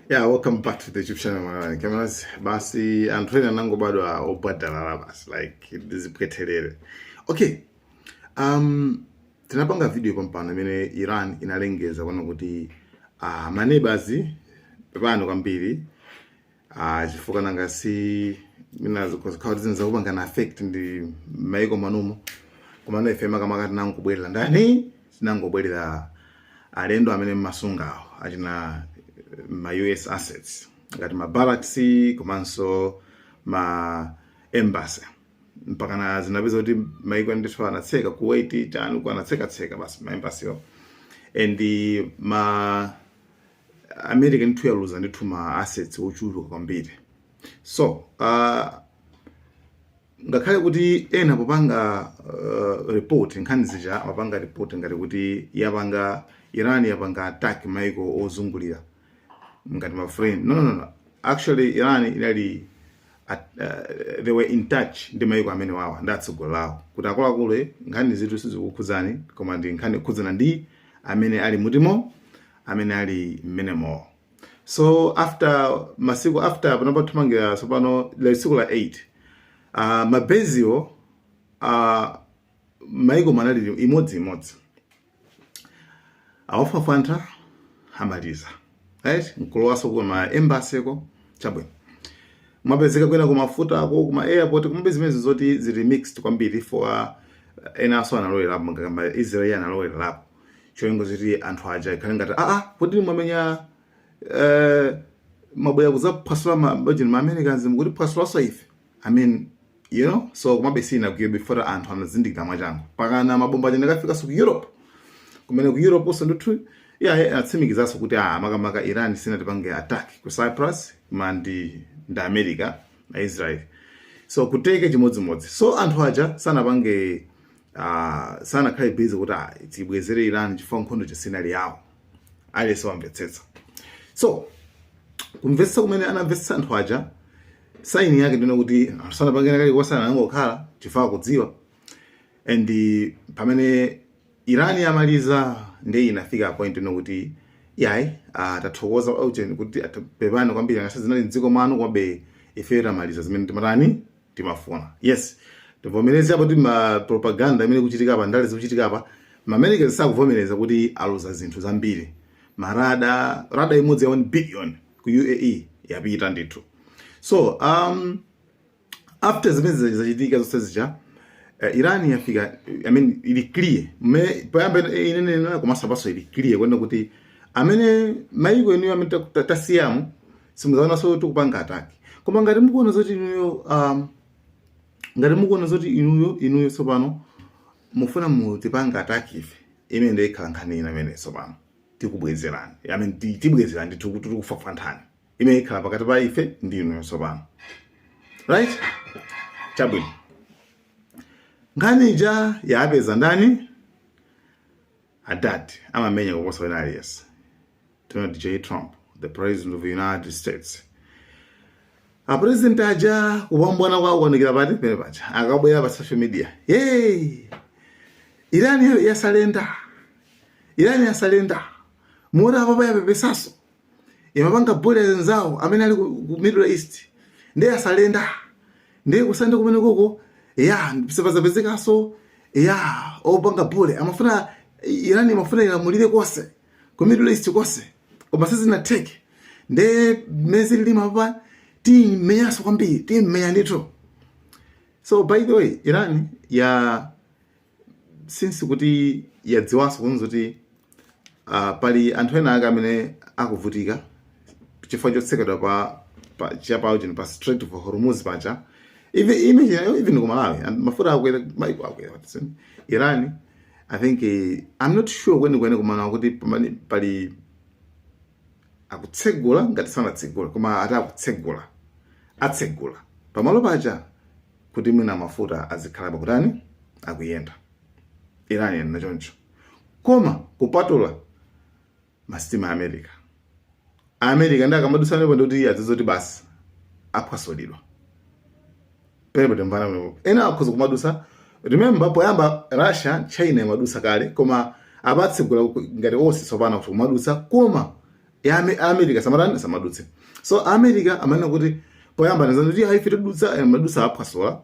Yeah, welcome back to the YouTube channel mwabwanji. Cameras, basi anthu ena anangobadwa odalala basi like dzipweteleni. Okay. Um tinapanga video pampano imene Iran inalengeza kuona kuti uh, ma neighbors pepani kwambiri uh, chifukwa nanga si zina zikhala zinakupangani affect mmaiko manumo komano ife makamaka tinangobwerera ndani tinangobwerera alendo amene mmasungawo achina ma US assets ngati ma barracks komanso ma embassy mpakana zinapezeka kuti maiko ndithu anatseka Kuwait chani uko anatseka tseka basi ma embassy wo and America ndithu yaluza ndithu ma assets ochuluka kwambiri so uh, ngakhale kuti ena popanga uh, report nkhani zija amapanga report ngati kuti yapanga iran yapanga attack maiko ozungulira ngati ma friend no, no, no. no. actually iran inali at, uh, they were in touch ndi maiko amene wawa ndi atsogoleri awo kuti akuluakulu eh, nkhani izitu sizikukhudzani koma ndi nkhani yokhudzana ndi amene ali mutimo amene ali mmenemowo so after masiku after panopa thamangira tsopano lero tsiku la 8 uh, ma base wo uh, mmaiko munali imodzi imodzi awafufutha amaliza right nkulowanso ku ma embassy ko chabwino kumapezeka kwina ku mafuta uko kuma airport komabe zimenezi zoti zili mixed kwambiri for uh, enanso analowerapo ngakamba israel analowerapo cholinga choti anthu aja ikhale ngati aa kodi mwamenya eh, mwabwera kuzaphwasula ma base a ma americans mukutiphwasulanso ife i mean you know so komabe sinagwire chifukwa anthu anazindikira mwachangu mpakana mabomba aja anakafikanso ku europe kumene ku europe nso ndithu iye atsimikizanso kuti a ah, makamaka iran sinatipange attack ku cyprus koma ndi ndi america na israel so ku turkey chimodzimodzi so anthu aja sanapange ah, sanakhale busy kuti ah, tibwezere iran chifukwa nkhondo ija sinali yawo aliyense wamvetsetsa so kumvetsetsa kumene anamvetsetsa anthu aja saini yake ndi yokuti anthu sanapangenso kalikonse anangokhala chifukwa kudziwa and pamene iran yamaliza ndiye inafika point yonena kuti yayi ah, tathokoza auzeni kuti apepani kwambiri ngati zinali mdziko mwanu komabe ifeyo tamaliza zimene timatani timafuna yes tivomereze apo ma propaganda imene ikuchitika apa ndale zikuchitika apa ma americans sakuvomereza kuti aluza zinthu zambiri marada rada imodzi ya 1 billion ku uae yapita ndithu so um, after zimene zija- zachitika zonse zija uh, iran yafika i mean ili clear Me- poyamba ine- ine nena komanso apanso ili clear kunena kuti amene maiko inuyo amene ta- ta- tasiyamo simudzaonanso tikupanga attack koma ngati mukuona zoti inuyo um, ngati mukuona zoti inuyo inuyo tsopano mufuna mutipange attack ife imene ndio ikhala nkhani ina imene tsopano tikubwezerani i mean ti- tibwezerani ndithu kuti tikufafanthani imene ikhala pakati pa ife ndi inuyo tsopano right chabwino nkhani ija yapeza ndani adad amamenya kuposa wina aliyense Donald J. Trump, the president of the United States. Apresident aja kupambwana kwawo kuonekera pati pene paja akubwera pa social media hey! Iran yasalenda Iran yasalenda mura apa pa yapepesaso imapanga bule anzawo amene ali ku Middle East ndiye yasalenda ndiye kusande kumene koko ya sipazapezekaso ya opanga bule amafuna Iran imafuna ilamulire konse ku middle east konse koma sizinatheke nde mezi lilima pa timmenyanso kwambiri timmenya ndithu so by the way iran ya since kuti yadziwanso kunena kuti uh, pali anthu ena ake amene akuvutika chifukwa chotsekedwa pa pa chapawo chino pa strait of hormuz paja even imagine even ku malawi and mafuta akwera maiko akwera iran I think eh, I'm not sure kwenikweni komano akuti pamene pali akutsegula ngati sanatsegula koma ati akutsegula atsegula pamalo paja kuti mwina mafuta azikhala akutani akuyenda iran yanena choncho koma kupatula masitima a America. A America nde akamadutsa pamenepo ndikuti iye adziwe zoti basi aphwasulidwa. Pamenepo timvana pamenepo. Ena akhoza kumadutsa. Remember poyamba Russia, China imadutsa kale koma apatsegula ngati onse tsopano kuti kumadutsa koma ya Ame- a America samatani samadutse. So a America amanena kuti poyamba anazanena kuti ayi ife tidutsa eh, amadutsa aphwasula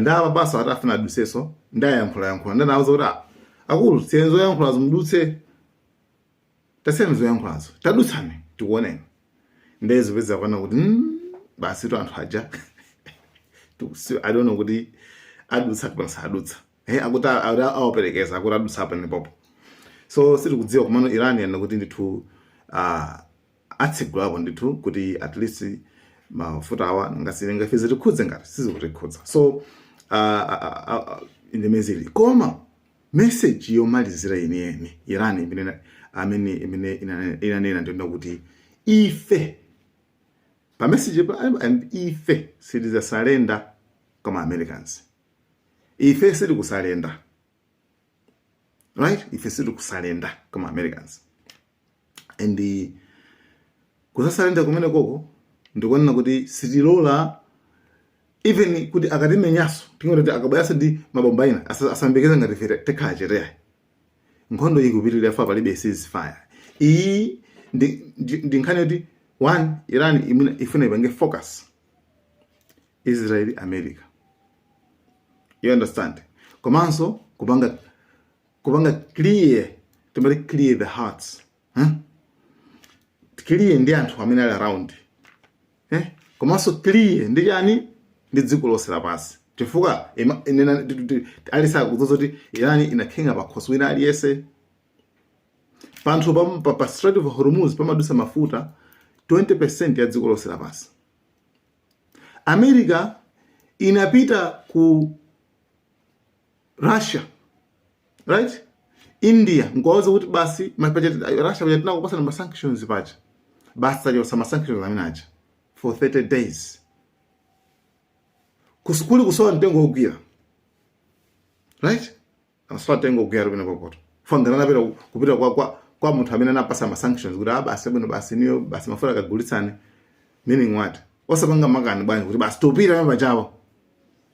nde apa basi ati afuna aduseso ndayankhula yankhula ndanawuza kuti "Ah, akulu siyenzo yankhula zimudutse tasiyani zoyankhulazo tadutsani tikuoneni ndiye zopeza kuona kuti mm, basi tu anthu aja i don't know kuti adutsa kapena sadutsa he akuti awaperekeza akuti adutsa apa nipopo so sitikudziwa komano iran yanena kuti ndithu uh, atsigulapo ndithu kuti at least mafuta awa ngakhale ife zitikhudze ngati sizikutikhudza so uh, uh, uh, uh, ndi mene zili koma Meseji yomalizira yeniyeni Irani imene ina- amene imene ina- inanena ndi yonena kuti ife pa meseji pa- am- ife sitizasalenda kwa ma Americans ife sitikusalenda right ife sitikusalenda kwa ma Americans and kusasalenda kumenekoko ndi konena kuti sitilola even kuti akatimenyaso tingoti kuti akabweranso ndi mabomba ina asa- asayembekeze ngati ife tikhala chete ya nkhondo iyi ikupitirira fa palibe ceasefire iyi ndi, ndi, ndi nkhani yoti one iran imene ifuna ipange focus israel america you understand komanso kupanga kupanga clear timati clear the hearts huh? clear ndi anthu amene ali around eh? komanso clear ndi chani ndi dziko lonse lapansi chifukwa aliyense akuziwa kuti irani inatenga pakhosi wina aliyese pa nkhani ya, pa, pa Strait of Hormuz pamadusa mafuta 20% ya dziko lonse lapansi america inapita ku Russia right India nkuwauza kuti basi ma paja Russia paja tinakupasani ma sanctions paja basi tachosa ma sanctions amene aja for 30 days uku ndi kuli kusowa mtengo wogwira right asowa mtengo wogwira tu kumenekokotu ofunika napita kupita kwa kwa kwa munthu amene anapasa ma sanctions kuti aa basi ah, bwino basi inuyo basi mafuta akagulitsane meaning what osapanga makani bwanji kuti basi topita pachawo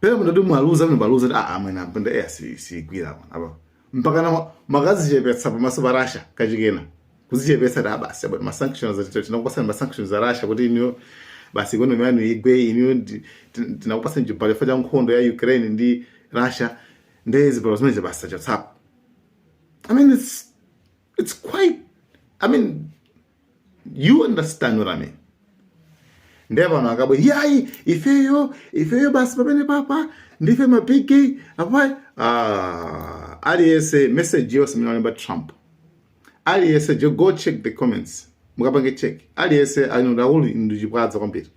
pena mutati mwaluza mmene mwaluza kuti aa mwene ampenda eya sigwira apa mpakana mwakazichepetsa pamaso pa rasha kachikenanso kuzichepetsa kuti aa basi abati masanctions tinakupasani masanctions za rasha kuti inuyo basi ikonomi yanu igwe inuyo tinakupasani chibalo chifukwa cha nkhondo ya ukraine ndi rasha nde zibalo zimenezi basi tachotsapo i mean it's, it's quite i mean you understand what I mean ndiye pano akabwera yayi ifeyo ifeyo basi pamenepapa ndife mabigi apa ah, aliyese message yonse imene walemba trump aliyese just go check the comments mukapange check aliyese anodakulu ndichipwaza kwambiri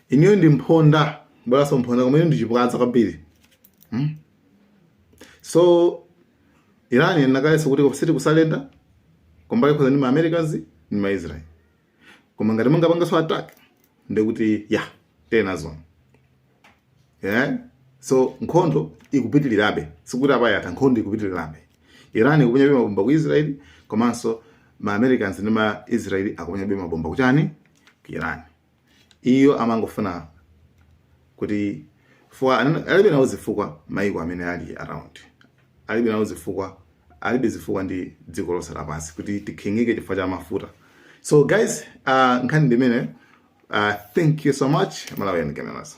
inuyo ndi mphonda bweraso mphonda koma inu ndichipwaza kwambiri hmm? so Iran yanena kale so kuti koma sitikusurrender kumbali yokhudzana ndi ma Americans ndi ma Israel. Koma ngati mungapangenso attack ndiye kuti ya tili nazo. Yeah. So nkhondo ikupitirirabe sikuti apa yatha nkhondo ikupitirirabe. Iran ikuponyabe mabomba ku Israel komanso ma Americans ndi ma Israel akuponyabe mabomba kuchani ku Iran. iyo amangofuna kuti fuwa anana- alibe nawo zifukwa maiko amene ali around alibe nawo zifukwa alibe zifukwa ndi dziko lonse lapansi kuti tikhinyike chifukwa cha mafuta so guys uh, nkhani ndi imeneyi uh, thank you so much malawi and cameras